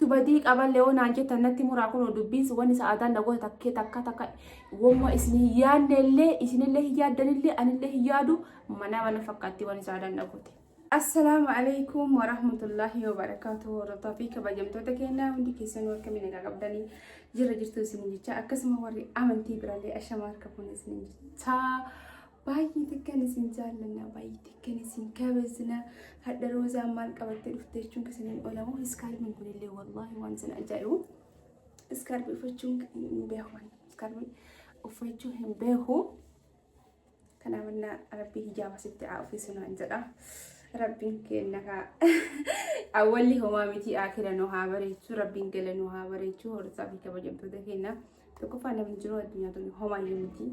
tu badii qaba leoo naan jettan natti muraa kunoo dubbiin sun wanni sa'aadaan na goota takkee takka takka wamma isin hin yaadne illee isinillee hin yaaddan illee anillee hin yaadu mana mana fakkaatti wanni sa'aadaan na goote. Assalaamu alaikum warahmatullahi wabarakatuh hordoftaa fi kabajamtoota keenyaa hundi keessanuu akkamiin egaa qabdanii jirra jirtu isin jecha akkasuma warri amantii birallee ashamaa harka fuun isin jecha Baay'ee takkan isin jaallanna baay'ee takkan isin kabajna hadha roozaan maal qabattee dhufte jechuun kan isiniin olamu iskaarbiin kunillee wallaahi waan isin ajaa'ibu iskaarbii uffachuun hin beeku iskaarbii uffachuu hin beeku kanaaf innaa rabbii hijaaba sitti haa uffisuu naan jedha rabbiin keenna kaa awwalli homaa miti akira nu haa bareechu rabbiin gala nu haa bareechu horsaa fi kabajamtoota keenna Tokkoffaa namni jiruu addunyaa tuni homaayyuu miti.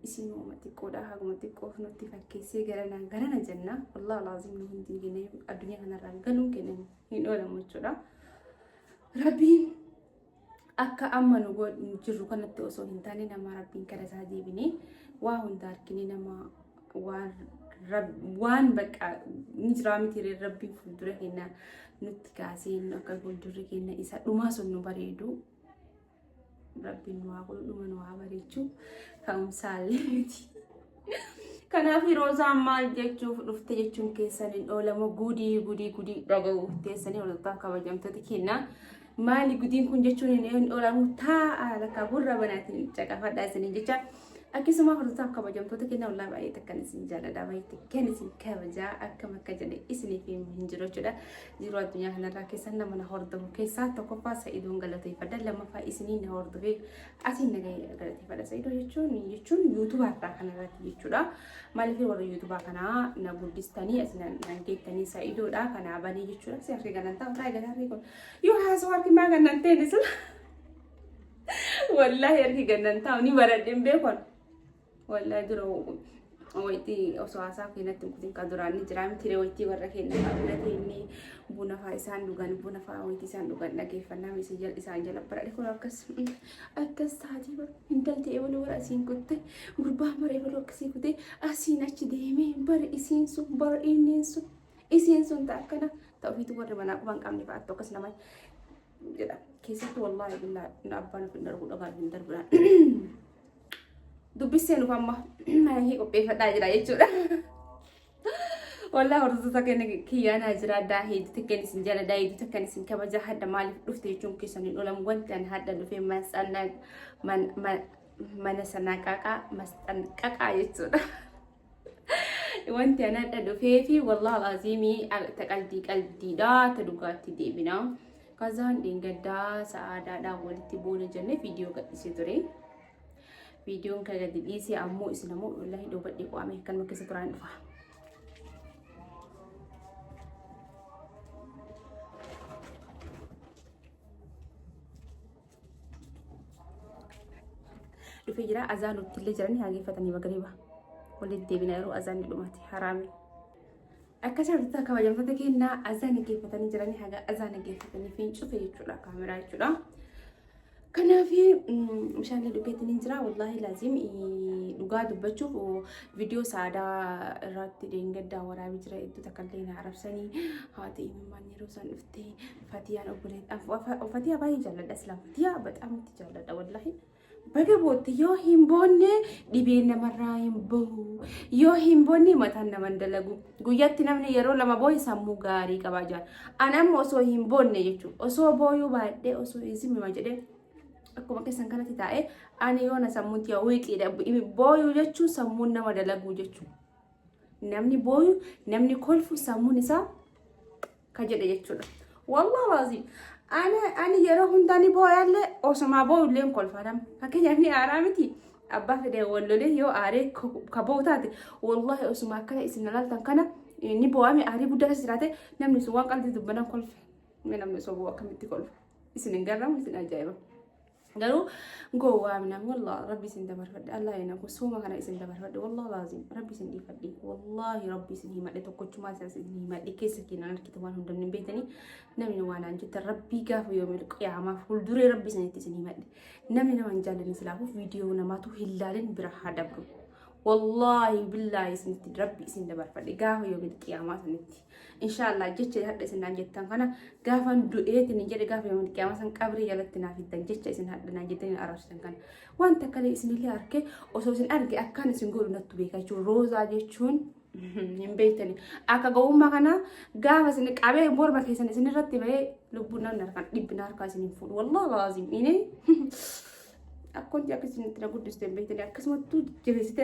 Isin hooma xiqqoodha haguma xiqqoof nutti fakkeessee garana garana jenna. Wallahi alaaziim nu hundi keenya addunyaa kanarraa galuun keenya hin oolamu jechuudha. Rabbiin akka amma nu go- nu jirru kanatti osoo hin taane nama rabbiin gara isaa deebinee waa hunda argine nama waan rab- waan bakka ni jiraa miti ree rabbiin fuuldura keenya nutti kaasee nu akka fuuldurri keenya isa dhumaa sun nu bareedu Rabbiin nu haa godhu dhuma nu haa bareechu ka'umsaallee miti. Kanaaf roozaan maal jechuuf dhufte jechuun keessan hin oolamu gudii gudii gudii dhaga'uuf teessanii hordoftaan kabajamtoota kennaa. Maali gudiin kun jechuun hin oolamu taa'a lakka gurra banaatiin caqafadhaa isiniin jecha. Akkasuma hordoftaan kabajamtoota kennaa walaa baay'ee takkan isin jaalladha baay'ee takkan isin kabajaa akkam akka jedhe isiniif himu hin jiru jechuudha. Yeroo addunyaa kanarraa keessan nama na hordofu keessaa tokkoffaa sa'idoon galateeffadha lammaffaa isinii na hordofee asiin nagaa galateeffadha sa'idoo jechuun jechuun yuutubaarraa kanarratti jechuudha maaliif warra yuutubaa kanaa na guddistanii as na na deettanii sa'idoodha kanaa banii jechuudha si harki ganantaa otaa eegataa fi kun yoo haasoo harki maa gannantee ni sila wallaahi harki gannantaa ni baradheen beekon Wallahi dura wayitii osoo haasaa kee natti hin kutin ka duraan ni jiraa miti ree wayitii warra keenya fa'aa bira teennee buna fa'aa isaan dhugan buna fa'aa wayitii isaan dhugan dhageeffannaa miti isin jala isaan jala bara kun akkas akkas taatii bara intalti ebaluu bara asiin kutte gurbaa bara ebaluu akkasii kutee asiin achi deemee bara isiin sun bara inneen sun isiin sun ta'a akkana ta'u ofiitu warri manaa qubaan qabne fa'aatti akkas nama jedha keessatti wallaahi billaa na abbaan of hin darbu dhagaan hin darbina dubbissee nuuf amma hii qopheeffadhaa jira jechuudha. Wallah hordoftoota keenya kiyyaan haa jira addaa hedduu takkeen isin jaladaa hedduu takkeen isin kabaja hadda maaliif dhufte jechuun keessan hin oolan wanti an hadda dhufee mana sanaa qaqaa masxan qaqaa jechuudha. Wanti ana adda dhufeefi wallahi alaaziimii ta qaldii qaldiidha ta dhugaatti deebina. Kazaan dheengaddaa sa'aadaadhaan walitti buune jennee viidiyoo gadhiisee ture. Viidiyoon kan gadi dhiisee ammoo isin ammoo wallahi dhoobadhee qo'ame kan nu keessa turaan dhufa. dhufee jira azaan uttillee jiranii hageeffatanii magariba waliin deebina yeroo azaan ni dhumate haraami. Akka jirtu kabajamtoota keenyaa azaan dhaggeeffatanii jiranii haga azaan dhaggeeffatanii fi cufe jechuudha kaameraa jechuudha. Kanaaf meeshaalee dhugeetiin hin jira wallaahi laaziim dhugaa dubbachuuf viidiyoo saadaa irratti deengaddaa waraabee jira hedduu takka illee na arabsanii haati imimmaan yeroo isaan dhuftee Fatiyaan obboleettii Fatiyaa baay'ee jaalladha silaa Fatiyaa baxaam itti jaalladha wallahi. Baga bootte yoo hin boonne dhibeen namarraa hin bahu yoo hin boonne mataan nama hin dalagu guyyaatti namni yeroo lama boo'e sammuu gaarii qabaa jira. An amma osoo hin boonne jechuudha osoo booyuu baadhee osoo hin simima jedhee akkuma keessan kanatti taa'ee ani yoona sammuutti yaa wiiqiidha booyuu jechuun sammuun nama dalaguu jechuudha. Namni booyu namni kolfu sammuun isaa ka jedhe jechuudha. Wallah laazim. Ani ani yeroo hundaa ni boo'allee osumaa boo'ullee hin kolfadam. Fakkeenyaaf ni aaraa miti. Abbaa fedhe wallolee yoo aaree ka boo'u taate wallahi osuma akkana isin ilaaltan kana ni boo'ame aarii guddaa keessa jiraate namni sun waan qalbii dubbanan kolfe. Namni osoo boo'u akkamitti kolfe. Isin hin garramu isin ajaa'iba. Garuu gowwaa minam wallah rabbi isin dabarfadhe allah ina kun sooma kana isin dabarfadhe wallah laazim rabbi isin dhiifadhe wallahi rabbi isin himadhe tokkochumaa isaa isin himadhe keessa keenan argite waan hunda hin beektanii namni waan aan jette rabbii gaafa yoomil qiyaamaa fuulduree rabbi isinitti isin himadhe namni nama hin jaallanne silaafuu viidiyoo namaatu hin laalin bira haa dabru wallahi billaahi isinitti rabbi isin dabarfadhe gaafa yoomil qiyaamaa isinitti Inshaallah jecha hadha isin naan jettan kana gaafan du'eetiin hin jedhe gaafa yommuu qiyaamaa san qabrii jalatti naaf hiddan jecha isin hadha naan jettan hin arrabsitan kana. Waan takka illee isinillee arke osoo isin arge akkaan isin godhu nattu beeka jechuun roozaa jechuun hin beektani. Akka gowwummaa kana gaafa isin qabee morma keessan isin irratti bahee lubbuun namni harkaan dhibbina harkaa isin hin fuudhu. Wallah laazim ini akkonti akkasitti na guddiste hin beektani akkasumattuu jabeessite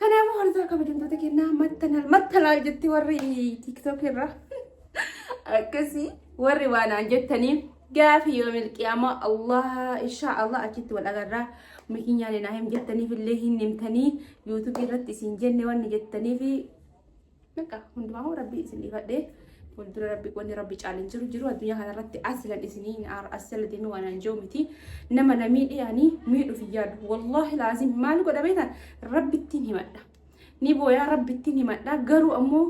Kanaafuu hordofaa kabajamtoota kennaa mattanal mattanal jetti warri tiktok irra akkasii warri waanaan jettanii gaafii yoo milqiyaama Allah insha Allah achitti wal agarraa mikinyaan naa him jettaniif illee hin himtanii yuutuubii irratti isin jenne wanni jettaniif Bakka hundumaa rabbi isin dhiifadhe fuuldura rabbi wanni rabbi caalin jiru jiru addunyaa kanarratti asilan isinii asila deemee waan an jiru miti nama na miidhe ani miidhuuf hin yaadu wallaahi laazim maal godha beektan rabbittiin himadha ni booyaa rabbittiin himadha garuu ammoo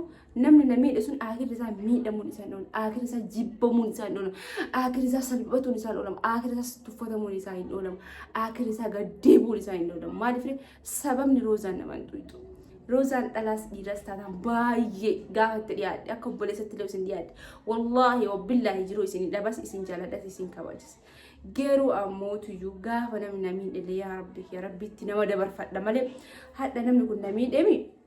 namni na miidhe sun aakirri isaa miidhamuun isaan oolu aakirri isaa jibbamuun isaa hin oolamu aakirri isaa salphatuun isaa hin oolamu aakirri isaa tuffatamuun isaa hin oolamu aakirri isaa gaddeebuun isaa hin oolamu maaliif Sababni Roozaan nama hin tuqxu. Roozaan dhalaas dhiiras taanaan baay'ee gaafa itti dhiyaadhe akka obboleessatti illee isin dhiyaadhe. Wallaahi wabbillaahi jiruu isin dhabas isin jaaladhas isin kabajis. Garuu ammoo tuyyuu gaafa namni namiin illee yaa rabbi yaa rabbiitti nama dabarfadha malee hadha namni kun namiin dhemi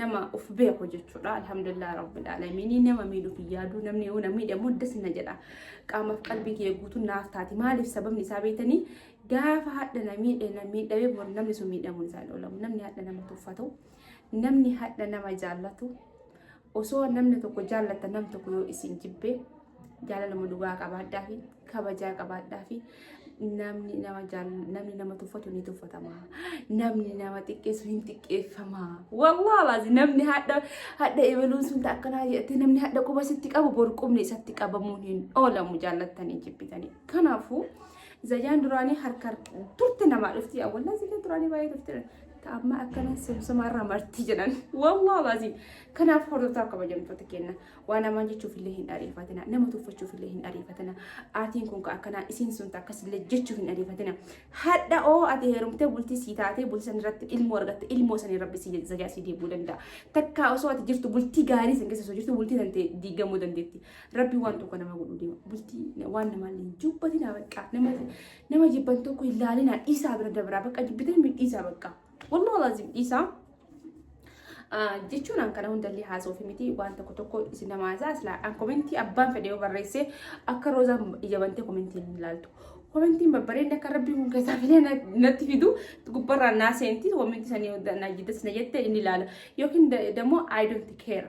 nama of beeku jechuudha alhamdulillah rabbil alaminii nama miidhuuf hin yaadu namni yoo namni miidhamu das na jedha qaamaaf qalbii kiyya guutuun naaf taati maaliif sababni isaa beektanii gaafa hadha na miidhe na miidhamee bor namni sun miidhamuun isaa hin oolamu namni hadha nama tuffatu namni hadha nama jaallatu osoo namni tokko jaallata nam tokko yoo isin jibbe jaalaluma dhugaa qabaadhaa fi kabajaa qabaadhaa fi namni nama jaal- namni nama tuffatu ni tuffatama namni nama xiqqeessu hin xiqqeeffama wallah lazi namni hadha hadha ebaluun sun ta akkanaa jedhatti namni hadha quba sitti qabu bor qubni isatti qabamuun hin oolamu jaallattanii jibbitanii kanaafuu zayyaan duraanii harka turte namaa dhufti awwallaa zayyaan duraanii baay'ee turte ta amma akkana sumsumaa irraa marti jedhan wallah lazi kanaaf hordoftaa kabajamtoota kenna Waan hamaa jechuuf illee hin ariifatina. Nama tuffachuuf illee hin ariifatina. Aatiin kun ka akkanaa isiin sun ta akkas illee jechuuf hin ariifatina. Hadha oo ati heerumtee bultii sii taatee bultii san irratti ilmoo argatte ilmoo sanii rabbi sii zajaa sii deebuu danda'a. Takkaa osoo ati jirtu bultii gaarii san keessa osoo jirtu bultii san ta'e diigamuu dandeetti. Rabbi waan tokko nama godhuu deema. Bultii waan namaa illee hin jibbatina bakka. Nama nama jibban tokko hin laalinaa dhiisaa bira dabraa bakka jibbitan mi dhiisaa bakka. Wallahu lazim dhiisaa. jechuun an kana hundallee haasoofi miti waan tokko tokko isin nama haasaa silaa an komentii abbaan fedhe yoo barreessee akka roozaan ija bantee komentiin hin ilaaltu. Komentiin babbareedni akka rabbii kun keessaa filee natti fidu gubbarraa naa seenti komentii sanii najjidas na jette inni ilaala yookiin dammoo I don't care.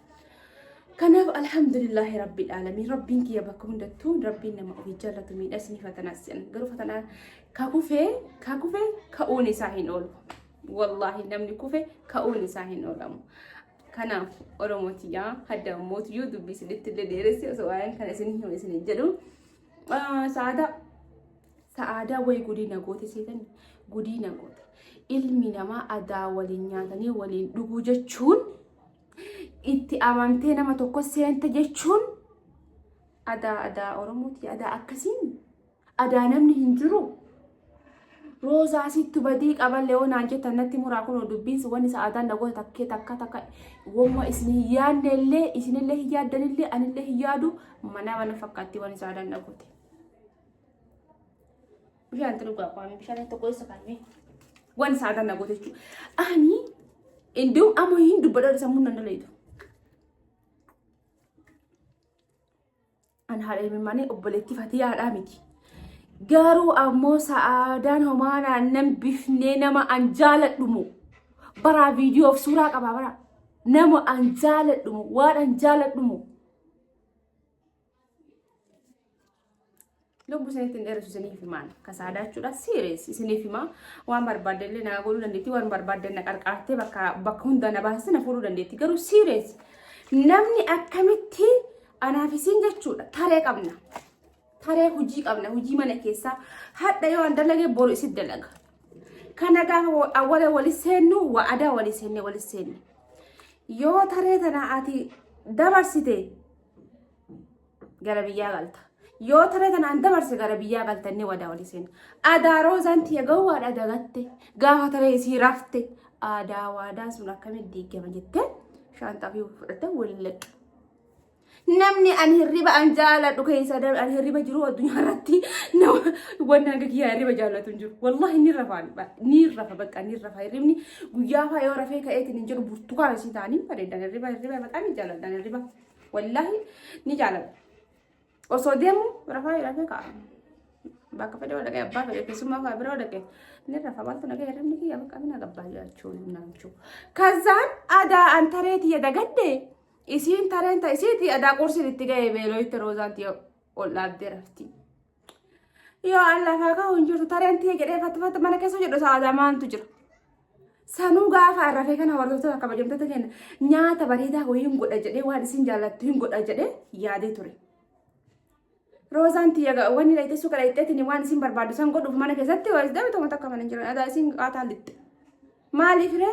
Kanaaf alhamdulillahi rabbiin aalamiin rabbiin kiyya bakka hundattuu rabbiin nama ofii jaallatu miidhas ni fatanaas jedhan garuu fatanaa ka kufee ka kufee ka'uun isaa hin oolu wallaahi namni kufe ka'uun isaa hin oolamu. Kanaaf Oromoo tiyyaa hadda mootu yoo dubbisinitti illee dheeressi osoo waa'een kana isin himu isin hin jedhu. Sa'aadaa sa'aadaa wayii gudiina goote seetanii gudiina goote ilmi namaa adaa waliin nyaatanii waliin dhuguu jechuun. Itti amantee nama tokko seenta jechuun adaa adaa Oromooti adaa akkasiin adaa namni hin jiru. Roozaa sittu badii qaban leewoonaan jettan natti muraa kun dubbiinsi wanni isa aadaan nagoota takkee takka takka wamma isin hin yaadne illee isinillee hin yaaddan illee anillee hin yaadu mana mana fakkaatti wanni isa aadaan nagooti. Bishaan itti dhugaa qabaame bishaan itti tokko eessa kaa'ame waan saataan na goote jechuudha. Ani iddoo amma hin dubbadhaa sammuu nan dalayitu. An haadha himimmaanii obboleettii fatiyaadhaa miti. Garuu ammoo sa'aadaan homaa naannan bifnee nama an jaaladhumu. Baraa viidiyoof suuraa qabaa baraa. Nama an jaaladhumu waan an jaaladhumu. Lubbu isinitti hin dheeressu isiniif himaan ka saadaachuudha siirees isiniif himaa waan barbaadde illee naa godhuu dandeetti waan barbaadde na qarqaartee bakka bakka hunda na baasiste na fuudhuu dandeetti garuu siirees namni akkamitti anaaf isiin jechuudha taree qabna taree hojii qabna hojii mana keessaa hadha yoo an dalage boru isin dalaga kana gaafa awwala wali seennu wa'adaa wali seenne wali seenne yoo taree tana ati dabarsite gara biyyaa galta. Yoo tana tanaan dabarse gara biyyaa galta inni wadaa oli seena. Adaa roozaan tiyya gawwaadha dagatte gaafa tana isii rafte aadaa waadaa sun akkamitti diigama jettee shaanxaa fi fudhatte waliin laqqa. Namni ani hirriba an jaaladhu keessa an hirriba jiru addunyaa irratti nama wanna hanga kiyyaa hirriba jaallatu hin jiru. Wallahi ni rafa ni rafa bakka ni rafa hirribni guyyaa faa yoo rafee ka'eetiin hin jiru burtukaan isii taanii bareedan hirriba hirriba maqaan hin jaalladhan hirriba. Wallaahi ni jaalladha. Osoo deemu rafaa rafee ka'a. Bakka fedhe yoo dhaqee abbaa fedhe keessumaa kaa bira yoo dhaqee ni rafa wanta nagee hirribni kiyya bakka mina gabbaa jechuun naan jechuu. Kazaan adaa an taree tiyya dagadde isiin tareen ta isiiti adaa qursiin itti ga'e beeloo itti roozaan tiyya ol dhaabdee rafti. Yoo Allah faa kahu hin jirtu tareen tiyya jedhee fattifatti mana keessa jedhu sa'aadaa maaltu jira. Sanuu gaafa arrafee kana hordoftoota akka bajamtota kenna nyaata bareedaa wayii hin godha jedhee waan isin jaallattu hin godha jedhee yaadee ture. Roozaan tiyya wanni dhayitee suuqa dhayiteetiin waan isin barbaaddu san godhuuf mana keessatti waayis dhabee tokko takka mana hin jiran adaa isin qaataa lixxe. Maaliif ree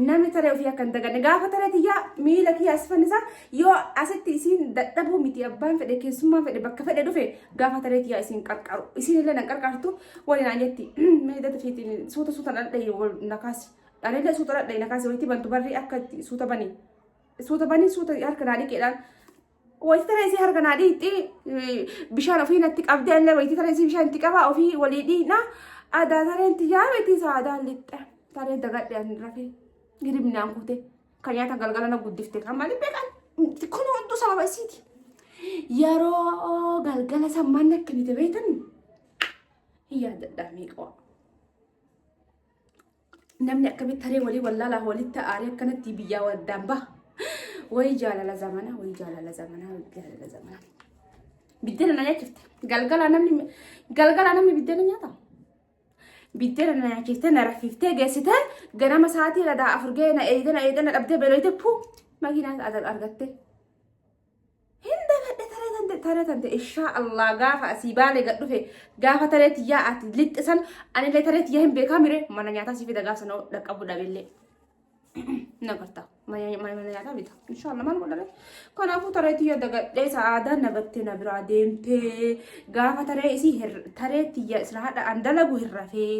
namni taree ofii akka hin daganne gaafa taree tiyyaa miila kiyya as fannisa yoo asitti isiin dadhabuu miti abbaan fedhe keessummaan fedhe bakka fedhe dhufe gaafa taree tiyyaa isiin qarqaru isiin illee na qarqartu waliin aan jetti meedata fiitiin suuta suuta dhadhayi wal nakaasi anillee suuta dhadhayi nakaasi walitti bantu barri akka itti suuta bani suuta bani suuta harka naa dhiqeedhaan Wayitii taree isii harka naa dhiitti bishaan ofii natti qabdee illee wayitii taree isii bishaan itti qabaa ofii walii dhiina adaa tareen tiyyaa miti saadaa lixxe taree dagadhe ani rafee hiribnaan kute kan nyaatan galgala na guddifte kan malee beekan kun hunduu sababa isiiti. Yeroo galgala sammaan na kennite beektan hin yaadadhaa miiqoo. Namni akkamitti taree walii wallaalaa walitti aaree akkanatti biyyaa waddaan baha. Wayii jaalala zamanaa, wayii jaalala zamanaa, wayii jaalala zamanaa. Biddeena na nyaachifte. Galgala namni galgala namni biddeena nyaata. Biddeena na nyaachiftee na raffiftee geessitee ganama sa'aatii ladaa afur ga'ee na eegdee na eegdee na dhabdee beelooyte puu makiinaa argattee. Hin dagadhe taree tante taree tante inshaa Allah gaafa asii baalee gad dhufe gaafa taree tiyyaa ati lixxe san anillee taree tiyyaa hin beekaa mire mana nyaataa si fida gaafa sana dhaqqabu dhabillee. na garta mana nyaataa bita inshaa Allah maal godhame kanaafuu taree tiyya dagadhee sa'aadaa na battee na biraa deemtee gaafa taree isii hir- taree tiyya sila hadha an dalagu hin rafee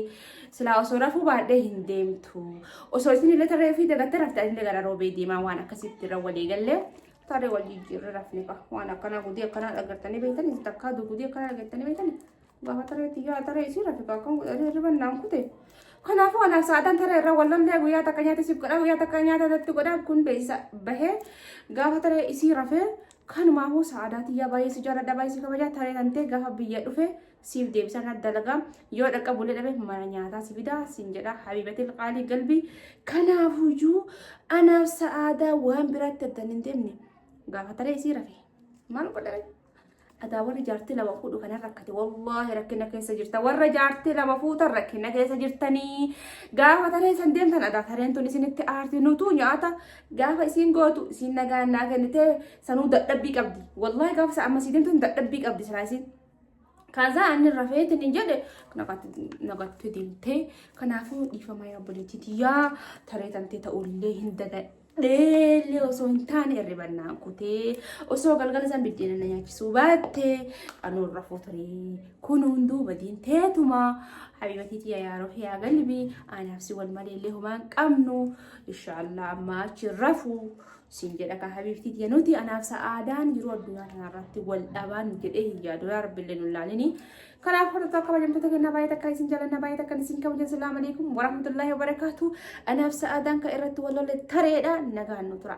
sila osoo rafuu baadhee hin deemtu osoo isin illee taree ofii dagattee rafte anillee gara roobee deemaa waan akkasitti irra walii gallee Taaree wal jijjiirree rafne qaba. Waan akkanaa gudii akkanaa dhagartanii beektanii itti akkaa gudii akkanaa dhagartanii beektanii gaafa taree tiyyaa taree isii rafi kaakkan godhanii hirriban naan kute. Kanaafuu anaa sa'aataan taree irraa wal lollee guyyaa takka nyaata siif godhaa guyyaa takka nyaata irratti godhaa kun beeksisa bahee gaafa taree isii rafee kanumaafuu sa'aadaa tiyyaa baay'ee si jaalladha baay'ee si kabajaa taree tantee gaafa biyya dhufee siif deebisa na dalagaa yoo dhaqqabulee dhabe mana nyaataa si fidaa siin jedha habiibatil qaalii galbii kanaafuyyuu anaaf sa'aadaa waan biraatti addan hin deemne gaafataree isii rafe maal godhame adaa warri jaartii lama fuudhu kana rakkate wallaahi rakkina keessa jirta warra jaartii lama fuutan rakkina keessa jirtanii gaafa taree san deemtan adaa tareen tun isinitti aarti nutuu nyaata gaafa isiin gootu isiin nagaan naa kennitee sanuu dadhabbii qabdi wallaahi gaafa sa amma sii deemtu dadhabbii qabdi silaa isiin Kazaa ani rafeeti ni jedhe nagatti deemtee kanaafuu dhiifama yaa obboleettiiti yaa taree tantee ta'ullee hin dagadheellee osoo hin taane hirribannaan kutee osoo galgala san biddeena na nyaachisuu baattee anuu rafuu turee kun hunduu badiin teetumaa habiibatiiti yaa yaaroo yaa galbii anaaf si wal maleellee homaan qabnu inshaallah ammaa achi rafuu siin jedha ka habiibtii tiyya nuti anaaf sa'aadaan yeroo addunyaa kanarratti wal dhabaan jedhee hin yaadu yaa rabbi illee nullaalini kanaaf hordofaa kabajamtoota kennaa baay'ee takka isin jalanna baay'ee takka isin kabajan salaamu alaikum warahmatullaahi wabarakaatu anaaf sa'aadaan ka irratti wal lolle tareedha nagaan nu tura.